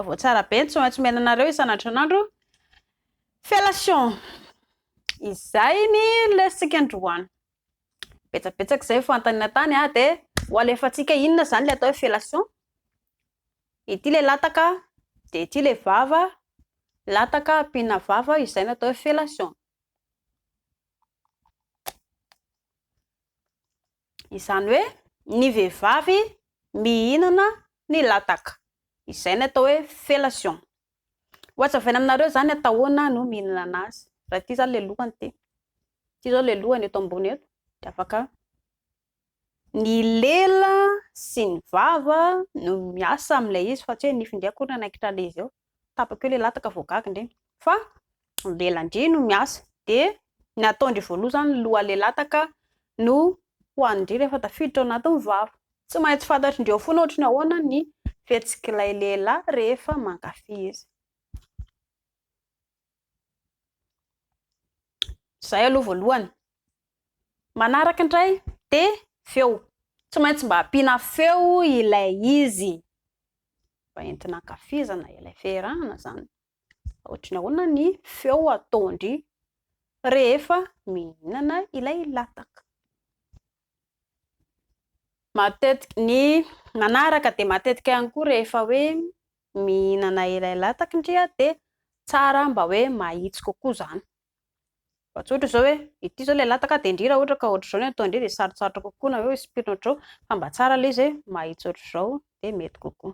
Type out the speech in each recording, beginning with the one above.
Vaovao tsara be ny tsy maintsy omena anareo isan'andronandro. Fellation! Izay ny lesintsika androany. Betsabetsaka izay ny fanontaniana tany ah, dia ho alefantsika inona izany ilay atao hoe fellation. Ity ilay lataka, dia ity ilay vava, lataka ampiana vava, izay no atao hoe fellation. Izany hoe ny vehivavy mihinana ny lataka. Izay ny atao hoe fellation. Ho azavaina aminareo izany atao ahoana no mihinana azy. Raha ity izany ilay lohany ity. Ity izao ilay lohany eto ambony eto dia afaka ny lela sy ny vava no miasa amin'ilay izy fa tsy hoe ny nify indray akory no hanaikitra an'ilay izy eo. tapaka eo le lataka vao gaga ndry fa mbela ndry no miasa de ny ataondry voaloha zany loha le lataka no hoanindry rehefa tafiditra ao anatin'ny vava tsy maintsy fantatry ndry ao fona ohatry ny ahoana ny fihetsik'ilay lehilahy rehefa mankafy izy Zay aloha voalohany. Manaraka indray dia feo. Tsy maintsy mba ampiana feo ilay izy mba entina ankafizana ilay fihirahana izany. Ohatry ny ahoana ny feo ataon-dry rehefa mihinana ilay lataka. Matetika, ny manaraka dia matetika ihany koa rehefa hoe mihinana ilay latak ndria dia tsara mba hoe mahitsy kokoa izany. Fa tsy ohatra izao hoe ity izao ilay latak dia ndry raha ohatra ka ohatr'izao ny ataon'dry dia sarotsarotra kokoa na hoe ho espirina ohatr'izao fa mba tsara ilay izy hoe mahitsy ohatr'izao dia mety kokoa.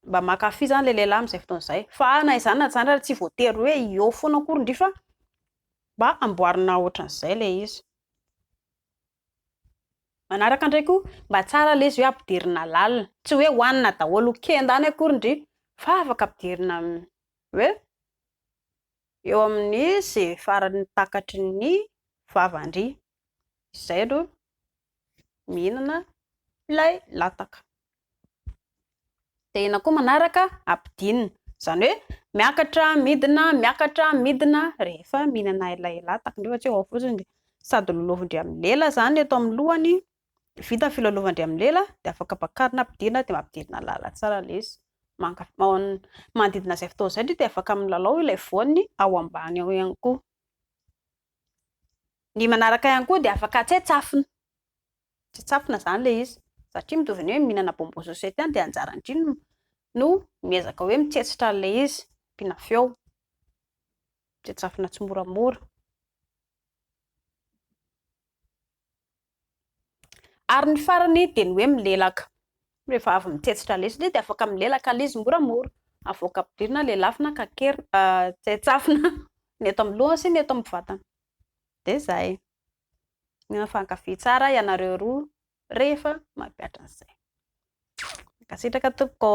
mba mankafy zany le lehilahy amzay fotoana zay fa na izany na zany ary tsy voatery hoe eo foana akory ndry fa mba amboarina otran'izay le izy manaraka ndray ko mba tsara le izy hoe ampidirina lalina tsy hoe hoanina daholo ho kenda any akory ndry fa afaka ampidirina hoe eo amin'ny ze faran'ny takatry ny vava ndry izay aloha mihinana ilay lataka. Dia ina koa manaraka ampidinina. Izany hoe miakatra midina, miakatra midina rehefa mihinana ilay lataka. Nefa tsy ao fotsiny dia sady lolovin'ny amin'ny lela izany eto amin'ny lohany, vita ny filalaovandry amin'ny lela dia afaka bakarina ampidinina dia mampidinina lala tsara ilay izy. Manodidina izay fotoana izay dia afaka milalao ilay voany ao ambany ao ihany koa. Ny manaraka ihany koa dia afaka tsaitsafina, tsaitsafina izany ilay izy satria mitovy ny hoe mihinana bonbon sucette ihany dia anjaran'ny dry no no miezaka hoe mitsetsitra an'ilay izy, ampiana feo, tsaitsafina tsimoramora. Ary ny farany dia ny hoe milelaka. Rehefa avy mitsetsitra lesona izy dia afaka milelaka ilay izy moramora. Avoaka ampidirina, lelafina, kakerina, tsetsafina ny eto amin'ny lohany sy ny eto amin'ny vatany. Dia izay. Mifankafy tsara ianareo roa rehefa mampihatra an'izay. Mankasitraka tompoko.